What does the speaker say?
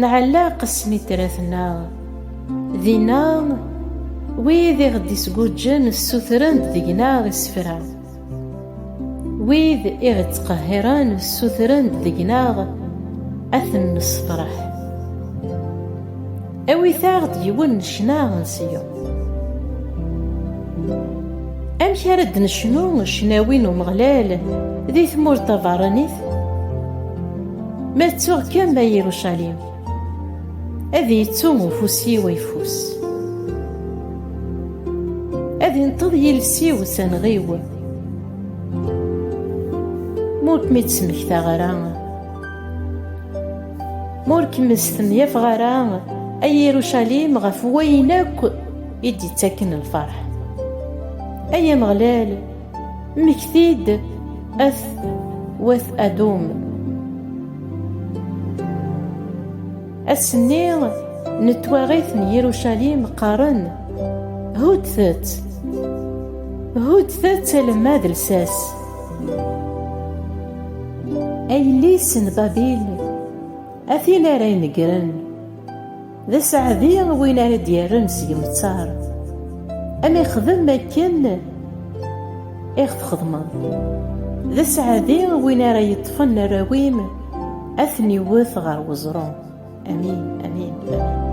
Nɛelleq snitrat-nneɣ dinna, wid i ɣ-d-isguǧǧen ssutren-d deg-neɣ isefra, wid i ɣ-ittqehhiren ssutren-d deg-neɣ ad ten-nesseṭreḥ. Awit-aɣ-d yiwen n ccna n Ṣiyun. Amek ara d-necnu ccnawi n Umeɣlal di tmurt tabeṛṛanit? Ma ttuɣ kan a Irucalim, ad yettu ufus-iw ayeffus. Ad inṭeḍ yiles-iw s anɣiw, ma ur kem-id-smektaɣ ara, ma ur kem-id-stemyafaɣ ara, a Irucalim, ɣef wayen akk i d-ittaken lferḥ. Ay Ameɣlal! Mmekti-d at wat Adum. Ass-nni n twaɣit n Yirucalim qqaren, Huddet! Huddet alemma d lsas! Ay yelli-s n Babil, a tin ara inegren! D aseɛdi win ara d-yerren s yemtar, am ixdem akken i ɣ-txedmeḍ. D aseɛdi win ara yeṭṭfen arraw-im ad ten-iwwet ɣer weẓru. Amin, amin, amin.